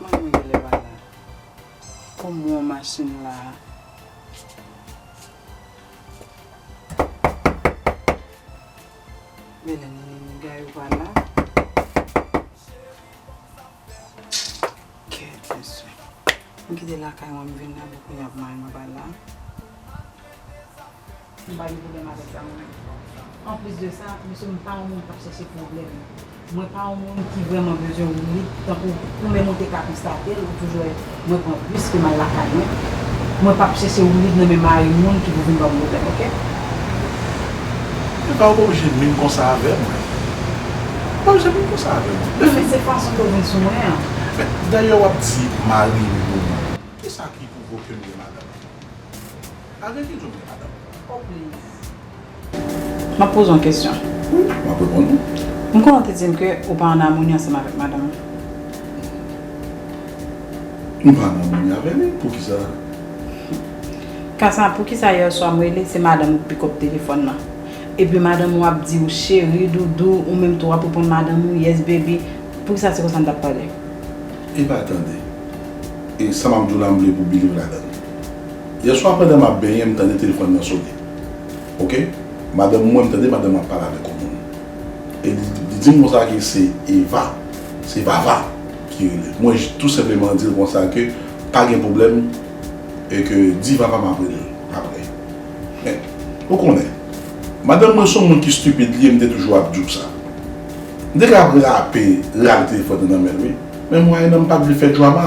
Manman mwen genlè pa la. Kòm mwen an machin la a. Men lè Nini Niga yo pa la. Kèt mesye. Mwen kite lakay mwen m vin nan men kounya pou mari mwen pa la. M pa gen pwoblèm avèk sa mwen menm. Anplis de sa, mesye m pa yon moun k ap chèche pwoblèm. Mwen pa yon moun ki vrèman bezwen woulit tankou pou men monte kapi sa tel ou toujou wè mwen pran bus ke m al lakay mwen. Mwen p ap chèche woulit nan men mari moun ki pou vin ban m pwoblèm ok. Epa ou pa oblije minm konsa avè mwen. Ou pa oblije minm konsa avè mwen. Wi men se fason ke w vin sou mwen an. Men dayè w ap di mari moun. Kisa ki pwouvoke m gen madanm? Avèk ki job li madam? Oh please. Map poze yon kesyon. Wi, map reponn ou. M konnen w te di m ke ou pa an amoni ansanm avèk madanm ou. M pa an amoni avè li, poukisa? Kasa, poukisa yè swa m rele, se madanm ou k pikòp telefòn nan. Epi madanm ou ap di ou cheri, doudou, ou menm tou wap reponn madanm ou yes baby. Poukisa se konsa n tap pale? Epa tande. E sa map di w la m vle pou w biliv ladan l? Yèswa pandan map benyen m tande telefòn nan sone ok madanm mwen m tande madanm ap pale avèk yon moun e li dim konsa ke se Eva se Vava ki relel mwen tou senpleman dil konsa ke pa gen pwoblèm e ke di Vava map relel aprè men ou konnen madanm mwen son moun ki stupid li ye m te toujou ap diw sa m te ka ap rape rale telefòn nan nan menl wi men mwayennan m pat vle fè drama.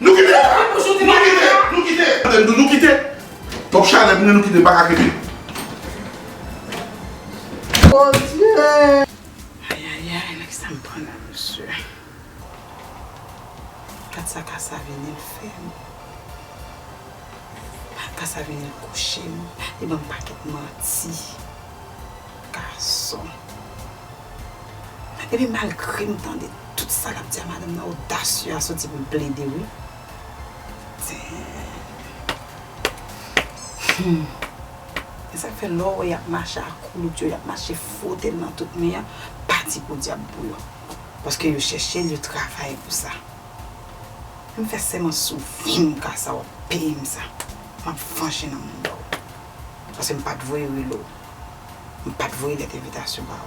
Nou kite! Nou kite! Nou kite! Tande m di w nou kite! Twòp chalè pou mwen nou kite m pa ka kenbe. Bondye! Ayayay nan kisa m pran la mesye. Gad sa kasa vini l fè m. Kasa vini l kouche m. Li ban m pakèt manti. Gason. Epi malgre m tande. Tout sa lap di a madanm nan odasye a soti poul plede wi Humm esak fè lèw wè yap mache ak koulout yo yap mache frotel nan tout mi an pa di podyab pou yo paske yo chèchel yo travay pou sa m fè sèman sou vim kasa wap peyim sa map vanje nan moun baw paske m pat voye rele w m pat voye lèt envitasyon baw.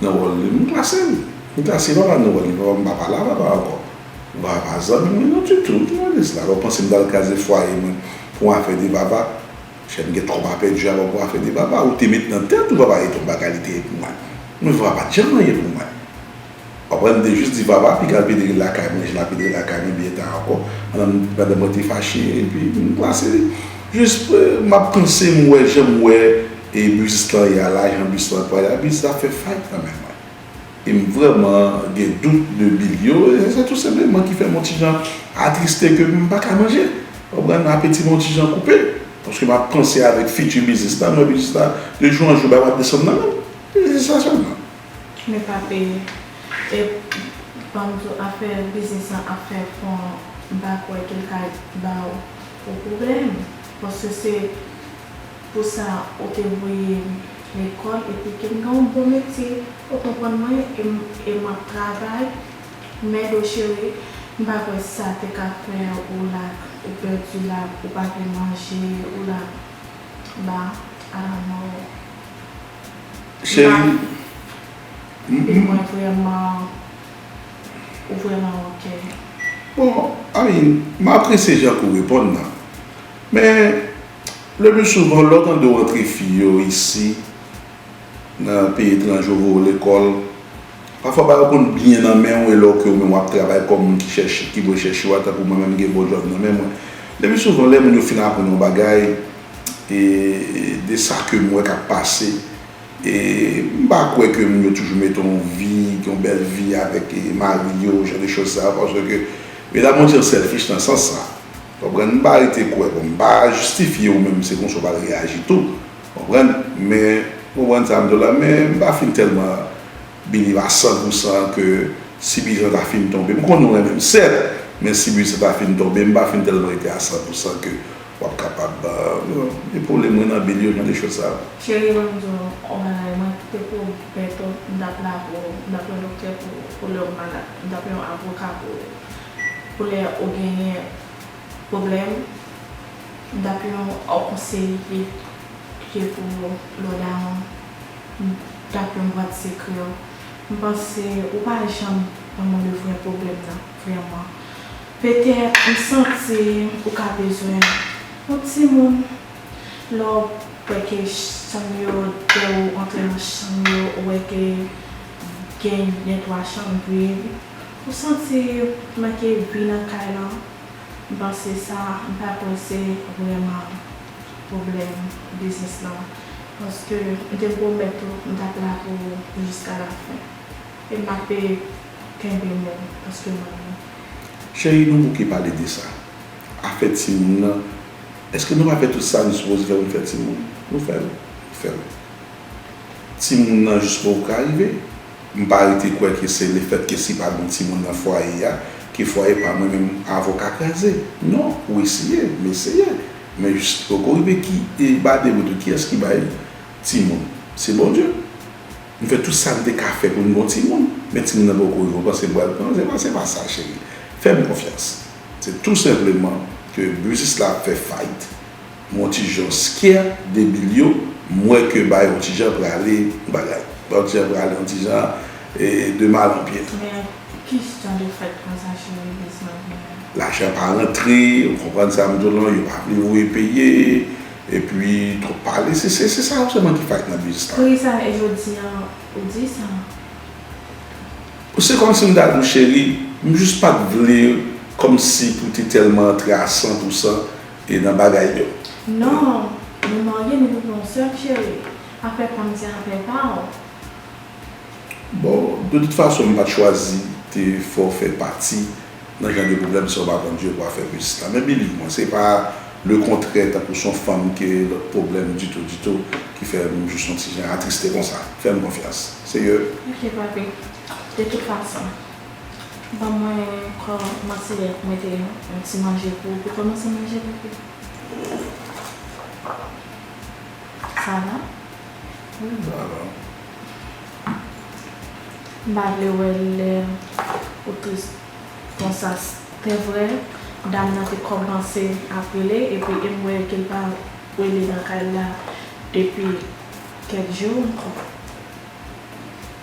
Nan wòl li, m klase li. M klase papa nan wòl li. Papa m pa pale a papa ankò. M pa pa zanmi mwen non ditou. Ki jounalist la? Ou panse m pral kraze fwaye mwen pou yon afè de papa? Chè m gen twòp a pèdi avè w pou afè de papa. Ou te met nan tèt ou papa Edon Baga li te ye pou mwen. Mwen vè papa pa t janm anyen pou mwen. Ou konprann? M te jis di papa piga l pedre lakay mwen jan l ap pedre lakay mwen byen ta ankò pandan mwen te fache epi m klase li. Jis m ap panse m wè jan m wè. E bus lan ya la jan bus lan pran ya bus la fè fayt nan men mwen e m vrèman gen dout de bil yo e se tou senpleman ki fè m on ti jan atriste ke m pa ka manje ou konprann apeti mwen on ti jan koupe paske m ap panse avèk fiti biznis la m wè biznis la de jou an jou bagay ap desann nan menm e se sa sèlman. Men pa peye e ban m di w afè biznis lan ap fè fon m pa kwè ke l ka ba w pwoblèm paske se Pou sa ou te voyem lekòl epi kem gen yon bon metye ou konprann mwen e map travay Mèdo cheri m pa kwè sa te ka fè ou la ou pèdi la ou pa vle manje ou la ba a la mort Cheri m e mwen vrèman ou vrèman ok. Bon Aline m apresye jan ke w reponn nan men. Le plus souvent lè w tande w antre fi yo isi nan peyi etranje yo voye w lekòl, pafwa bagay yo konn byen nan men w e lè w ke ou menm w ap travay kòm moun ki chèche, ki dwe chèche wa tankou mwen menm m gen bon djòb nan men mwen. Le plus souvent lè moun yo fin aprann yon bagay e de sa ke m wè k ap pase e m pa kwè ke moun yo toujou mete yon vi, yon bèl vi avèk mari yo, jan de choz sa yo paske ke medam yo gen selfish nan sans sa. Konprann m pa rete kwè bon m pa jistifye ou menm se konsa ou pral reyaji tou konprann men konprann sa m di w la men m pa fin tèlman believe a san pou san ke si bijan ta fin tonbe m konnen ou renmen m sèt men si bijan ta fin tonbe m pa fin tèlman rete a san pou san ke w ap kapab gen pwoblèm mwen nan bil yo jan de chòz sa yo. Cherie banm di w yon bagay mwen kite pou ou bentò m tap la pou ou m tap yon doktè pou ou pou lè ou malad m tap yon avoka pou ou. Koulè ou genyen pwoblèm, m tap yon ou konseye pit ke pou lò damou, m tap yon bwat sekrè w. M panse ou pa janm konn le vrè pwoblèm nan vrèman. Petèt m santi ou ka bezwen yon timoun. Lè w wè ke chanm yo, lè ou antre nan chanm yo, ou wè ke gen 2 twa chanm vid. Ou santi manke vi nan kay lan m panse sa m pa kwè se vrèman pwoblèm biznis lan paske m te pwomèt ou m tap la pou ou jiska la fen e mape kenbe mo paske m renmen w. Cheri nou bouke pale de sa. Afè timoun lan eske nou pa fè tout sa nou sipoze fè pou n fè timoun? Nou fè l, ou fè l. Timoun lan jiskò ou ka rive? M pa rete kwè ke se lefèt ke si pa gen timoun nan fwaye a, ke fwaye pa mwen menm avon ka kraze. Non, ou eseye, m eseye, men poko rive ki e bade mwen tou kiyès ki bay timoun. Se Bondye. M fè tout sa m te ka fè pou m gon timoun, men timoun nan poko rive. Ou panse m pral pran? Se pa se pa sa cheri. Fè m konfyans. Se tou senpleman ke biznis la ap fè fayit. Mon ti jon skyè debil yo m wè ke ba yon ti jan prale yon bagay ba yon ti jan prale yon ti jan de mal an byen. Men ki jan de fèt konsa cheri vis mwen genyen. Lajan pa rantre ou konprann sa m di w lan yo pa vle voye peye epi twòp pale se se sa yo sèlman ki fayt nan biznis la. Poukisa e jodi an ou di sa. Se kòmsi m ta di w cheri m jis pat vle kòmsi pou te tèlman antre a 100 pou 100. E nan bagay yo. Non, nou marye nou tout non seum chérie, afè fanm se afè pa ou. Bon, de tout fason m pat chwazi te fè w fè pati nan jan de pwoblèm sa w pa konn jwe pou afè pitit la. Men believe mwen, se pa le kontrè tankou son fanm ke lòt pwoblèm ditou ditou ki fè m jis yon ti jan atriste konsa. Fè m konfyans. Se ke. Ok papi, de tout fason. Ban mwen kò manti lè yap mete yon ti manje pou pou kòmanse manje bebe. Sa va? Wi sa va. M pa vle wè lè ou tris konsa. Te vre dam nan te kòmanse ap rele epi em wè ke l pa rele nan kay la depi kèk jou ankò.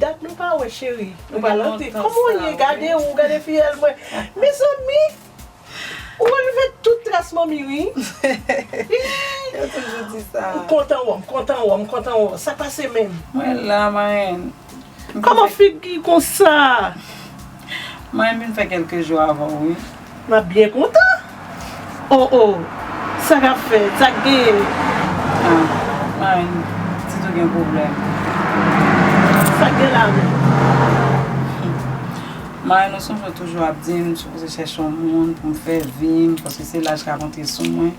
Dat nou pa wè cheri. Ou pa lan pi. Kòman ou ye gade ou gade fiyèl mwen. Mezanmi ou anlve tout tras manmi wi. Yo toujou di sa. M kontan wè w m kontan wè w m kontan wè w sa pase menm. Mwen la marenn. Kòman figi konsa. Mwen vin fè kelke jou avan w wi. M ap byen kontan. Oh oh sa k ap fèt? Sa k gen? Ah Marine pitit ou gen pwoblèm. Sa k gen la menm? Marine ou sonje w toujou ap di m sipoze chèche yon moun pou m fè vi m paske se laj k ap antre sou mwen.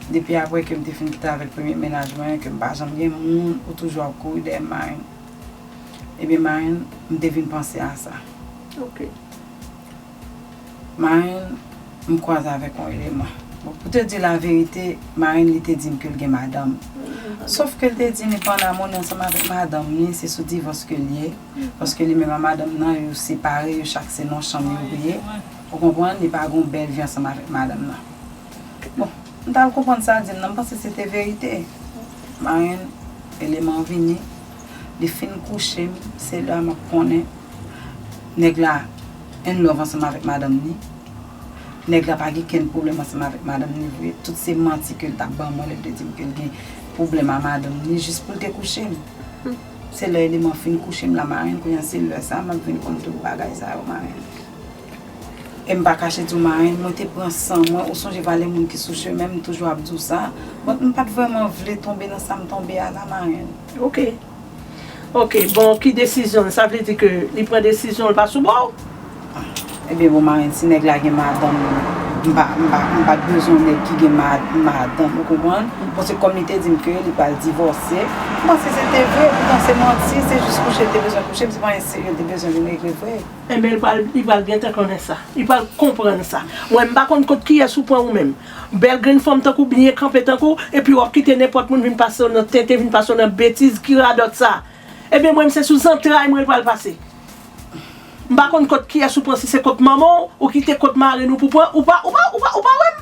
Depi apre ke m te fin kite avèk premye menaj mwen ke m pa janm gen moun ou toujou ap kouri dèyè m Marine. Ebyen Marin, m te vin panse a sa. Ok. Marin, m kwaze avèk yon eleman. Bon, pou te di w laverite, Marin li te di m ke l gen madanm. Sof ke l te di m li pa ann amoni ansanm avèk madanm li, se sou divòs ke l ye. Paske li menm ak madanm nan, yo separe, yo chak se nan yon chanm yo ye. Ou konprann? Li pa gen yon bèl vi ansanm avèk madanm nan. Bon. M tal konprann sa dim nan m panse se te verite marenn eleman vini li fin kouche m se la map konnen nèg la inlove ansanm avèk madanm ni nèg la pa gen kenn problèm ansanm avèk madanm ni vre tout se manti ke l tap ban mwen lè l te dim ke l gen problèm a madanm ni jis pou l te kouche m se lè eleman fin kouche m la marenn kounye a se lè sa map vin konn tout bagay sa yo marenn. E m pa kache di w Marenn, mwen te pran san mwen, ou sonje vale moun ki sou chemen m toujou ap di w sa. Donk m pa t vrèman vle tonbe nan sa m tonbe a la Marenn. Ok. Ok, bon ki desizyon l? Sa vle di ke li pran desizyon l pa sou bò w? Ebyen bon Marenn, si nèg la gen madanm li, m pa, m pa, m pa t bezwen nèg ki gen ma, madanm, ou konprann? Bon se kòm li te di m ke li pral divòse, m panse se te vre, poutan se manti, se jis kouche l te bezwen kouche m, se pa yon seri l te bezwen vin regle vre. Enben li pral li pral gentan konnen sa. Li pral konprann sa. Mwen m pa konn kot kiyès ou pran ou menm. Bèl grenn fanm tankou byen kanpe tankou w epi wap kite nenpòt moun vin pase w nan tenten vin pase w nan betiz ki radòt sa. Ebyen mwen m se sou zantray mwen l pral pase. M pa konn kot kiyès ou pran si se kot manman w ou kite kot marenn ou pou pran ou pa ou pa ou pa ou pa wè m.